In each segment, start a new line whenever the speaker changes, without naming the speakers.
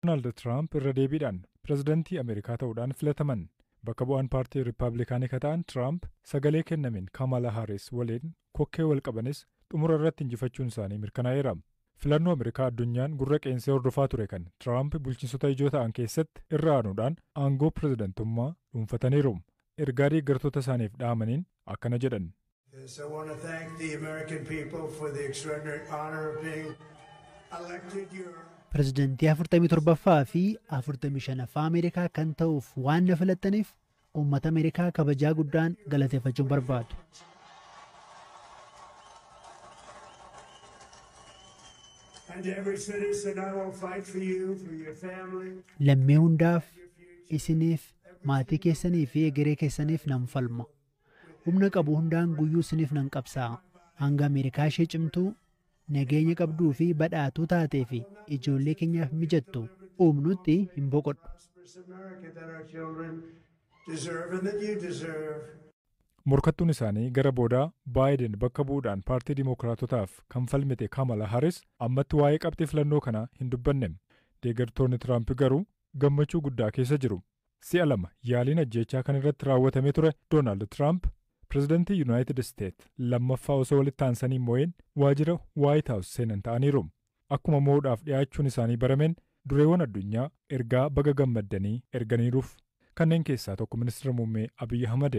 Doonaald Tiraamp irra deebiidhaan pirezidantii Ameerikaa ta'uudhaan filataman. Bakka bu'aan paartii Rippaablikaanii ka ta'an Tiraamp sagalee kennameen Kaamaalaa Haaris waliin kokkee wal qabanis xumura irratti injifachuun isaanii mirkanaa'eera. Filannoo Ameerikaa addunyaan gurra qeensee hordofaa ture kan Tiraamp bulchiinsota ijoo ta'an keessatti irra aanuudhaan aangoo pirezidantummaa dhuunfataniiru. Ergaa deeggartoota isaaniif dhaamaniin akkana jedhan. Yes, I want to
thank the American people for the extraordinary honor of being elected your Pirezidantii
47ffaa fi 45ffaa Ameerikaa kan ta'uuf waan na filattaniif uummata Ameerikaa kabajaa guddaan galateeffachuun barbaadu.
and to every citizen. I will fight for you, for your family, Lammii hundaaf,
isiniif, maatii keessanii fi egeree keessaniif nan falma. Humna qabu hundaan guyyuu siniif nan qabsaa'a. Hanga Ameerikaa ishee cimtuu, nageenya qabduu fi badhaatuu taatee fi ijoollee keenyaaf mijattu uumnutti hin boqodhu.
Morkattuun isaanii gara boodaa Baayiden bakka bu'uudhaan paartii Dimookiraatotaaf kan falmite Kamala Harris ammatti waa'ee qabxii filannoo kanaa hin dubbanne. Deeggartoonni Tiraamp garuu gammachuu guddaa keessa jiru. Si'a lama yaaliin ajjeechaa kan irratti raawwatamee ture Doonaald Tiraamp pirezidantii Yunaayitid Isteet lammaffaa osoo walitti aansanii hin mo'iin waajira Waayit Haawus seenan ta'aniiru. Akkuma mo'uudhaaf dhiyaachuun isaanii barameen dureewwan addunyaa ergaa baga gammaddanii erganiiruuf. Kanneen keessaa tokko Ministira Muummee Abiy Ahmad.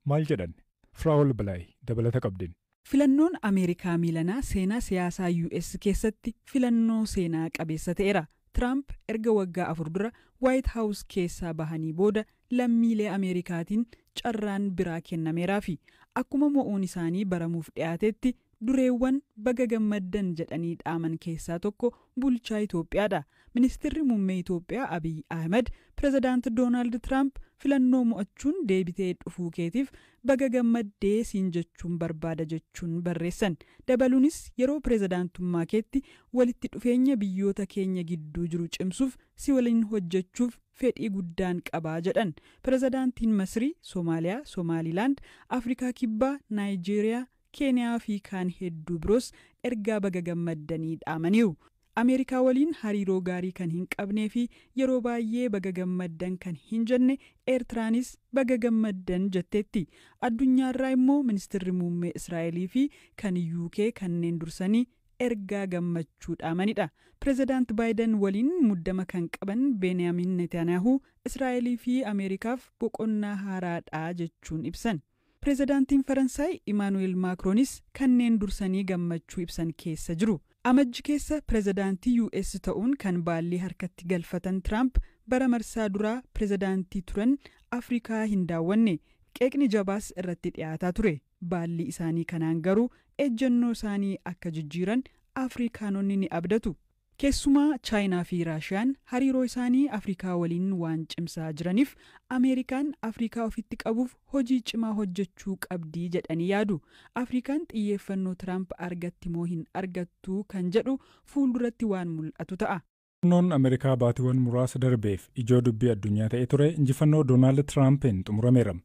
Maal jedhan? Firaa'ol Balaay dabalata qabdin. Filannoon Ameerikaa
miilanaa seenaa siyaasaa US keessatti filannoo seenaa qabeessa ta'eera. Tiraamp erga waggaa afur dura Waayit Haawus keessaa bahanii booda lammiilee Ameerikaatiin carraan biraa kennameeraafi. Akkuma mo'uun isaanii baramuuf dhiyaatetti Dureewwan baga gammaddan jedhanii dhaaman keessaa tokko bulchaa Itoophiyaadha. Ministirri Muummee Itoophiyaa Abiy Ahimad Pirezidaant Doonaald Tiraamp filannoo mo'achuun deebitee dhufuu keetiif baga gammadde siin jechuun barbaada jechuun barreessan. Dabaluunis yeroo pirezidaantummaa keetti walitti dhufeenya biyyoota keenya gidduu jiru cimsuuf si waliin hojjechuuf fedhii guddaan qaba jedhan. Pirezidaantiin Masrii, Somaaliyaa, Somaaliilaand, Afrikaa Kibbaa, Naayijeeriyaa, Keeniyaa fi kaan hedduu biroos ergaa baga gammaddanii dhaamaniiru. Ameerikaa waliin hariiroo gaarii kan hin qabnee fi yeroo baayyee baga gammaddan kan hin jenne Eertiraanis baga gammaddan jetteetti. Addunyaarraa immoo Ministirri Muummee Israa'elii fi kan UK kanneen dursanii ergaa gammachuu dhaamanidha. Pirezidaant Baayiden waliin muddama kan qaban Beeniyaamin Netaaniyaahuu Israa'elii fi Ameerikaaf boqonnaa haaraadha jechuun ibsan. Pirezidaantiin Faransaay Imaanu'eel Maakroonis kanneen dursanii gammachuu ibsan keessa jiru. Amajji keessa pirezidaantii US ta'uun kan baallii harkatti galfatan Tiraamp bara marsaa duraa pirezidaantii turan Afrikaa hin daawwanne. Qeeqni jabaas irratti dhiyaataa ture. Baallii isaanii kanaan garuu ejjennoo isaanii akka jijjiiran Afrikaanonni ni abdatu. Keessumaa Chaayinaa fi Raashiyaan hariiroo isaanii Afrikaa waliin waan cimsaa jiraniif Ameerikaan Afrikaa ofitti qabuuf hojii cimaa hojjechuu qabdi jedhanii yaadu. Afrikaan xiyyeeffannoo Tiraamp argatti moo hin argattu kan jedhu fuulduratti waan mul'atu ta'a. Filannoon Ameerikaa
baatiiwwan muraasa darbeef ijoo dubbii addunyaa ta'ee ture injifannoo Doonaald Tiraampiin xumurameera.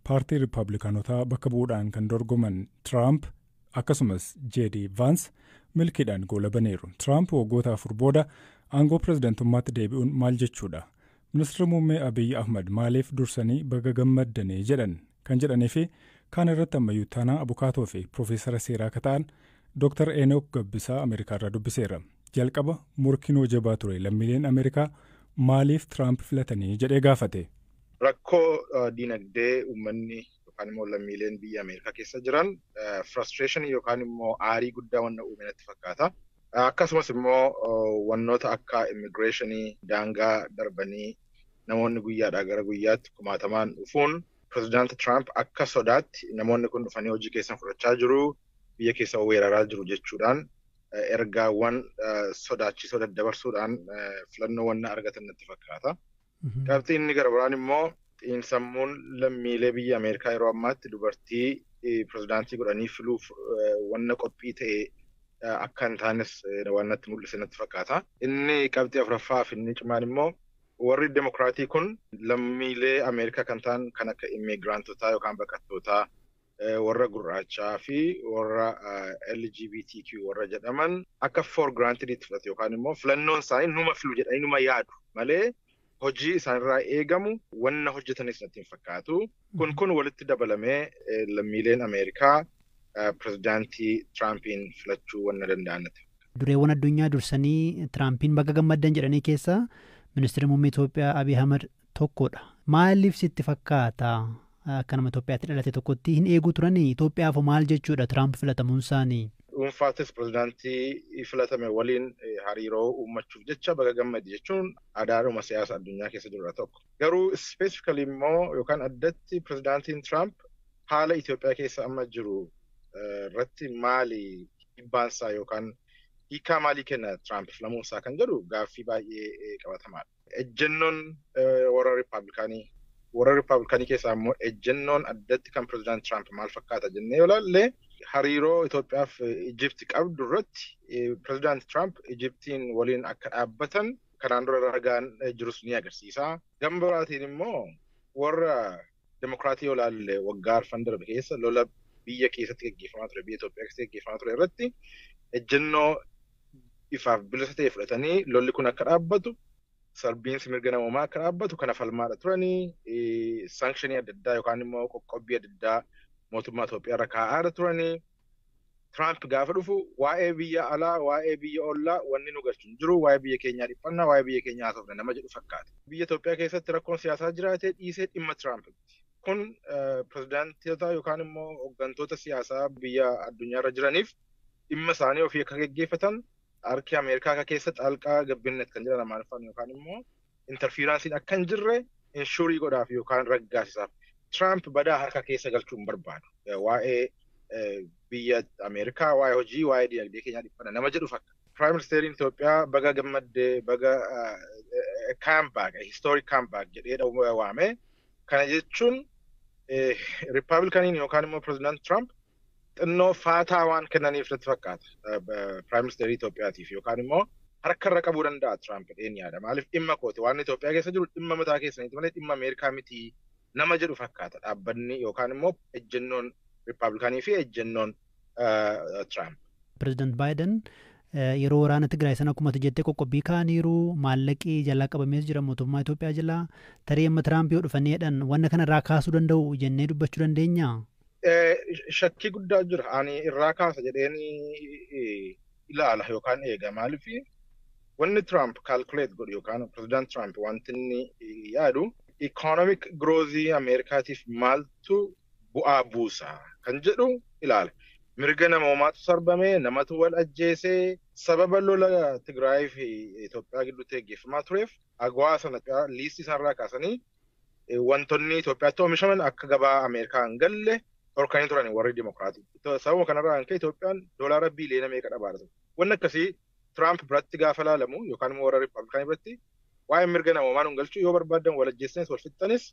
Paartii Rippaablikaanotaa bakka bu'uudhaan kan dorgoman Tiraamp akkasumas JD Vaans milkiidhaan goola baniiru. Tiraamp waggoota afur booda aangoo pirezidantummaatti deebi'uun maal jechuudha? Ministirri Muummee Abiy Ahmad maaliif dursanii baga gammaddanii jedhan? Kan jedhanii fi kaan irratti ammayyuu ittaanaa abukaatoo fi piroofeesara seeraa akka ta'an Dr. Enook Gabbisaa Ameerikaarraa dubbiseera. Jalqaba morkiin hoo jabaa ture lammiileen Ameerikaa maaliif Tiraamp filatanii jedhee gaafate. Rakkoo
dinagdee uummanni yookaan immoo lammiileen biyya Ameerikaa keessa jiran frustration yookaan immoo aarii guddaa wanna uume natti fakkaata. Akkasumas immoo wannoota akka immigireeshinii daangaa darbanii namoonni guyyaadhaa gara guyyaatti kumaatamaan dhufuun pirezidaanti Tiraamp akka sodaatti namoonni kun dhufanii hojii keessan fudhachaa jiru biyya keessa weeraraa jiru jechuudhaan ergaawwan sodaachisoo daddabarsuudhaan filannoo wanna argatan natti fakkaata. Qabxii inni gara biraan immoo xiinsammuun lammiilee biyya Ameerikaa yeroo ammaatti dubartii pirezidaantii godhanii filuuf wanna qophii ta'e akka hin taanes waan natti mul'ise natti fakkaata. Inni qabxii afuraffaa fi inni cimaan immoo warri demokiraatii kun lammiilee Ameerikaa kan ta'an kan akka immiigiraantotaa yookaan baqattootaa warra gurraachaa fi warra LGBTQ warra jedhaman akka for granted itti fudhatu yookaan immoo filannoon isaanii numa filu jedhanii numa yaadu malee hojii isaanirraa eegamu wanna hojjetanis natti hin fakkaatu. Kun kun walitti dabalamee lammiileen Ameerikaa pirezidaantii Tiraampiin filachuu wanna danda'an natti Dureewwan addunyaa
dursanii Tiraampiin baga gammaddan jedhanii keessaa ministeerri muummee Itoophiyaa Abiy Ahmad tokkodha. Maaliif sitti fakkaata? Akka nama Itoophiyaatti dhalate tokkotti hin eeguu turanii? Itoophiyaaf hoo maal jechuudha Tiraamp filatamuunsaanii? Dhuunfaattis
pirezidaantii filatame waliin hariiroo uummachuuf jecha baga gammade jechuun aadaadhuma siyaasa addunyaa keessa jirudha tokko. Garuu specifically immoo yookaan addatti pirezidaantiin Tiraamp haala Itoophiyaa keessa amma jiru irratti maali dhibbaansaa yookaan hiikaa maalii kenna Tiraamp filamuunsaa kan jedhu gaaffii baay'ee qabatamaadha. Ejjennoon warra Rippaabilikaanii warra Rippaabilikaanii keessaa immoo ejjennoon addatti kan Pireezidaant Tiraamp maal fakkaata jennee yoo ilaalle hariiroo Itoophiyaaf Ijipti qabdu irratti Pireezidaant Tiraamp Ijiptiin waliin akka dhaabbatan kanaan dura ragaan jirus ni agarsiisa. Gama biraatiin immoo warra Demokraatii yoo ilaalle waggaa arfan darbe keessa lola biyya keessatti gaggeeffamaa ture, biyya Itoophiyaa keessatti gaggeeffamaa ture irratti ejjennoo ifaaf bilisa ta'e fudhatanii lolli kun akka dhaabbatu, sarbiinsi mirga namoomaa akka dhaabbatu kana falmaadha turanii, sankshinii adda addaa yookaan immoo qoqqobbii adda addaa mootummaa Itoophiyaa irra kaa'aadha turanii. Tiraamp gaafa dhufu waa'ee biyya alaa, waa'ee biyya ollaa wanni nu galchu hin jiru, waa'ee biyya keenyaa dhiphanna, waa'ee biyya keenyaa haasofna nama jedhu fakkaata. Biyya Itoophiyaa keessatti rakkoon siyaasaa jiraatee dhiisee dhimma Tiraamp miti. Kun pirezidaantota yookaan immoo hoggantoota siyaasaa biyya addunyaa irra jiraniif dhimma isaanii ofii akka geggeeffatan harki Ameerikaa akka keessa xaalqaa gabbinnet kan jedhan Amaariffaan yookaan immoo interfiiraansiin akka hin jirre inshuurii godhaaf yookaan raggaasisaaf. Tiraamp badaa harka keessa galchuu hin barbaadu. Waa'ee biyya Ameerikaa, waa'ee hojii, waa'ee dinagdee keenyaa dhiphana nama jedhu fakkaata. Piraayim Ministeeriin Itoophiyaa baga gammaddee baga kaambaak, histoorii kaambaak jedhee waame. Kana jechuun Rippaabilikaniin yookaan immoo Pireezidaant Tiraamp xinnoo faataa waan kennaniif natti fakkaata Piraayim Ministeerii Itoophiyaatiif yookaan immoo harka irra qabuu danda'a Tiraamp jedheen yaada. Maaliif dhimma kooti waan Itoophiyaa keessa jiru dhimma mataa keessaniiti malee dhimma Ameerikaa miti nama jedhu fakkaata dhaabbanni yookaan immoo ejjennoon Rippaabilikaanii fi ejjennoon Tiraamp. Pireezidant
Baayiden yeroo waraana Tigraay sana akkuma ati jettee qoqqobbii kaa'aniiru maallaqi jalaa qabamees jira mootummaa Itoophiyaa jalaa tarii amma Tiraamp yoo dhufanii jedhan wanna kanarraa kaasuu danda'u jennee dubbachuu dandeenyaa?
Shakkii guddaa jira. Ani irraa kaasa jedheen ilaala yookaan eega. Maaliif wanni Tiraamp kaalkuleet godhu yookaan pirezidaant Tiraamp wanti inni yaadu ikoonomik giroozii Ameerikaatiif maaltu bu'aa buusa kan jedhu ilaala. Mirga namoomaatu sarbame, namatu wal ajjeese, sababa lola Tigraayii fi Itoophiyaa gidduutti gaggeeffamaa tureef agwaa sana liistii sanarraa kaasanii Wantonni Itoophiyaatti oomishaman akka gabaa Ameerikaa hin galle dhorkanii turan warri Dimokiraatii. Sababa kanarraa kan ka'e Itoophiyaan doolaara biiliyoona meeqa dhabaara ture. Wanni akkasii Tiraamp biratti gaafa laalamu yookaan immoo warra Rippaabilikaanii biratti waa'ee mirga namoomaa nun galchuu yoo barbaaddan wal ajjeessanis wal fixxanis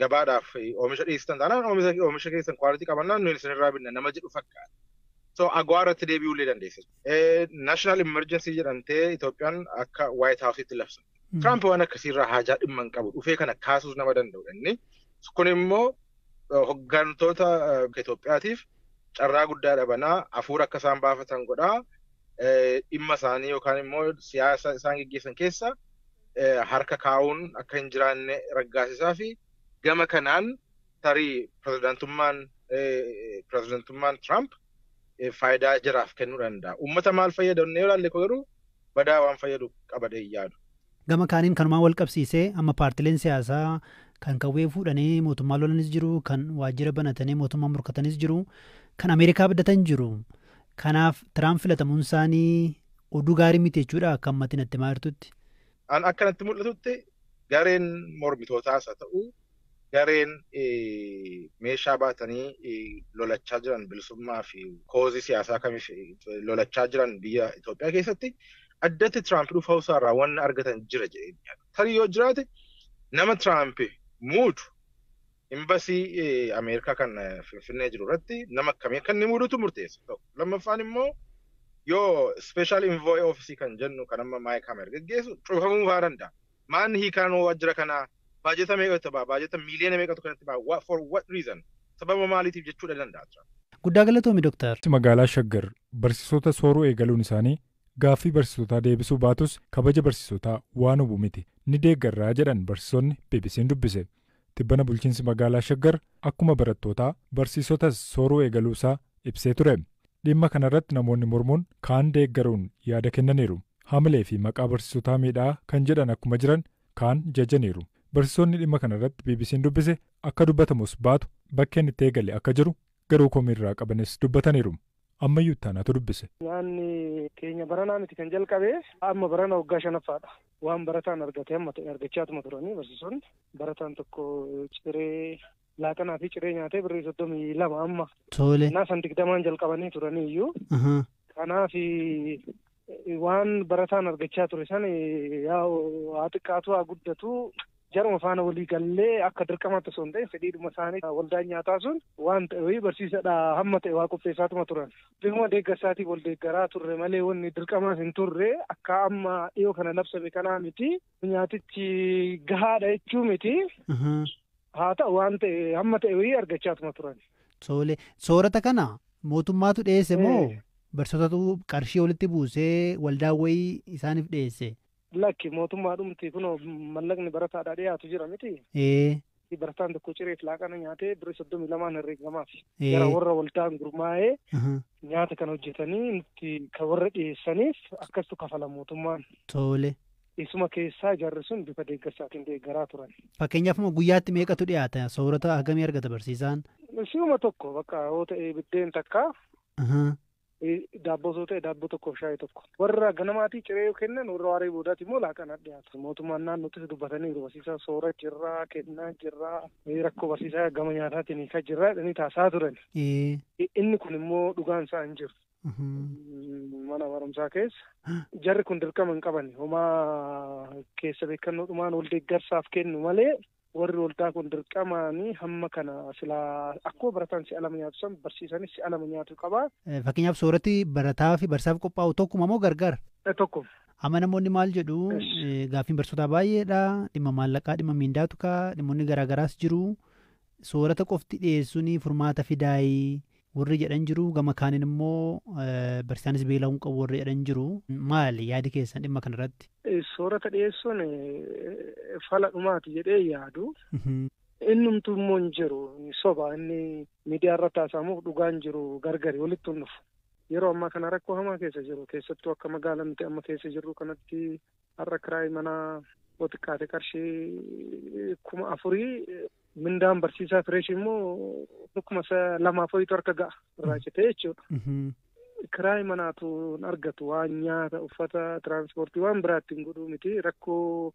gabaadhaaf oomisha dhiyeessitan taanaan oomisha keessan kwaalitii qabannaan nuyi isinirraa binna nama jedhu fakkaata. So agwaa irratti deebi'uu illee dandeessa. National Emergency jedhamtee Itoophiyaan akka White House'itti labsan. Tiraamp waan akkasiirraa haajaa dhimma hin qabu dhufee kana kaasuus nama danda'udha inni. Kun immoo hoggantoota Itoophiyaatiif carraa guddaa dhabanaa hafuura akka isaan baafatan godhaa dhimma isaanii yookaan immoo siyaasa isaan geggeessan keessa harka kaa'uun akka hin jiraanne raggaasisaa fi gama kanaan tarii pirezidaantummaan pirezidaantummaan Tiraamp faayidaa jiraaf kennuu danda'a. Uummata maal fayyada yoo ilaalle garuu badaa waan fayyadu qabadhee hin yaadu. Gama kaaniin kanumaan
walqabsiisee amma paartileen siyaasaa kan qawwee fuudhanii mootummaa lolanis jiru, kan waajjira banatanii mootummaa morkatanis jiru, kan Ameerikaa abdatan jiru. Kanaaf Tiraamp filatamuun isaanii oduu gaarii miti jechuudha akka ammatti natti himaa jirtutti. An akka natti
mul'atutti gareen mormitootaas haa ta'u Gareen meeshaa baatanii lolachaa jiran bilisummaa fi koozii siyaasaa kamiif lolachaa jiran biyya Itoophiyaa keessatti addatti Tiraamp dhufuu isaa irraa wanna argatan jira jedhee hin yaadu. Tarii yoo jiraate nama Tiraamp muudu imbasii Ameerikaa kan Finfinnee jiru irratti nama akkamii akka inni muudutu murteessa tokko. Lammaffaan immoo yoo special envoy office kan jennu kan amma Maayik Hamer geggeessu cufamuu fa'aa danda'a. Maanni hiikaan hoo waajjira kanaa baajata meeqa itti ba'a? Baajata miiliyoona meeqatu kan itti ba'a? For what reason? Sababa maaliitiif jechuu dha danda'a Trump. Guddaa galatoomi
Dr. Magaalaa Shaggar
barsiisota sooruu eegaluun isaanii gaaffii barsiisotaa deebisuu baatus kabaja barsiisotaa waan hubu miti ni deeggarra jedhan barsiisonni BBC'n dubbise. Tibbana bulchiinsi magaalaa Shaggar akkuma barattootaa barsiisotas sooruu eegaluusaa ibsee ture. Dhimma kanarratti namoonni mormuun kaan deeggaruun yaada kennaniiru. Hamileefi maqaa barsiisotaa miidhaa kan jedhan akkuma jiran kaan jajaniiru. Barsiisonni dhimma kanarratti BBC'n dubbise akka dubbatamus baatu bakkeen itti eegale akka jiru garuu komii irraa qabanis dubbataniiru. Ammayyuu itti aanaatu dubbise. Nyaanni
keenya baranaa miti kan jalqabe. Amma barana waggaa shanaffaadha. Waan barataan argate hamma ta'e argachaatuma turanii barsiisonni. Barataan tokko ciree laaqanaa fi ciree nyaatee birrii soddomii lama amma. Tole. Kanaaf san
digdamaan
jalqabanii turaniiyyuu. Ahaa. Kanaaf Waan barataan argachaa ture san haa xiqqaatu haa guddatu jaruma faana walii gallee akka dirqamaatti osoo hin ta'in fedhiidhuma isaanii waldaan nyaataa sun waan ta'e barsiisadha hamma ta'e waa qopheessaatuma turan. Bifuma deeggarsaatiin wal deeggaraa turre malee wanni dirqamaas hin turre akka amma dhiyoo kana labsame kanaa miti. Nyaatichi gahaadha jechuu miti. Haa ta'u waan ta'e hamma ta'e wayii argachaatuma turani. Tole,
soorata kana mootummaatu dhiyeesse moo Ee. barsiisotatu qarshii walitti buusee waldaan wayii isaaniif dhiyeesse? Lakki
mootummaadhumti kunoo mallaqni barataadhaa dhiyaatu jira miti. Ee, Barataan tokko cireef laaqana nyaatee birrii soddomii lamaan herreegamaafi. Ee. Gara warra waldaan gurmaa'ee aha, nyaata kan hojjetanii nutti kan warra dhiyeessaniif akkastu kafala mootummaan. tole.
Isuma keessaa
jarri sun bifa deeggarsaatiin deeggaraa turan. Fakkeenyaaf amma guyyaatti
meeqatu dhiyaata? Soorata hagamii argata barsiisaan? Si'uma tokko
bakka yoo ta'e biddeen takka Ahaa. eh, daabboo yoo ta'e daabboo tokko fi shaayii tokko. Warra ganamaatii ciree yoo kennan warra waaree boodaati immoo laaqana dhiyaatu. Mootummaan naannootis dubbataniiru barsiisaa soora jirraa kennaa jirraa eh, rakkoo barsiisaa gama nyaataatiin hiikaa jirraa jedhanii taasisaa turan. Ee. I- Inni kun immoo dhugaan isaa hin jiru. mana barumsaa keessa jarri kun dirqama hin qaban homaa keessa beekannoo dhumaan wal deeggarsaaf kennu malee warri waldaa kun dirqamaanii hamma kana silaa akkuma barataan si'a lama nyaatu san barsiisanis si'a lama nyaatu qaba. Fakkeenyaaf sooratti
barataa fi barsiisaaf qophaa'u tokkuma moo gargar? Tokkuma. Amma
namoonni maal
jedhu gaaffiin barsiisotaa baay'eedha dhimma maallaqaa dhimma miindaatu ka'a dhimmoonni garaagaraas jiru. soorata qofti dhiyeessuuni furmaata fidaayii warri jedhan jiru gama kaaniin immoo barsiisaanis beela'uu hin qabu warri jedhan jiru maali yaadi keessan dhimma kana irratti? Soorata dhiyeessuun
fala dhumaati jedhee yaadu. Innumtuu immoo hin jiru soba inni miidiyaa irratti haasa'amuuf dhugaan jiru gargari walitti hin dhufu. Yeroo ammaa kana rakkoo hamaa keessa jiru keessattuu akka magaalaa nuti amma keessa jirru kanatti Har'a kiraayi manaa yoo xiqqaate qarshii kuma afurii mindaan barsiisaa fireesh immoo kuma lamaa foyitu harka ga'a irraa citee jechuudha. Kiraayi manaatu hin argatu waan nyaata uffata tiraanspoortii waan biraatti hin godhuu miti rakkoo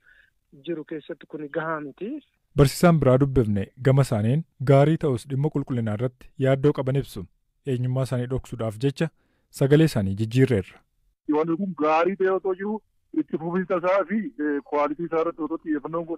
jiru keessatti kun gahaa miti. Barsiisaan biraa
dubbifne gama isaaniin gaarii ta'us dhimma qulqullinaa irratti yaaddoo qaban ibsu. eenyummaa isaanii dhoksuudhaaf jecha sagalee isaanii jijjiirreerra. Wanti kun
gaarii ta'ee otoo jiruu itti fufiinsa isaa fi quality isaa irratti otoo xiyyeeffannoon godhamee.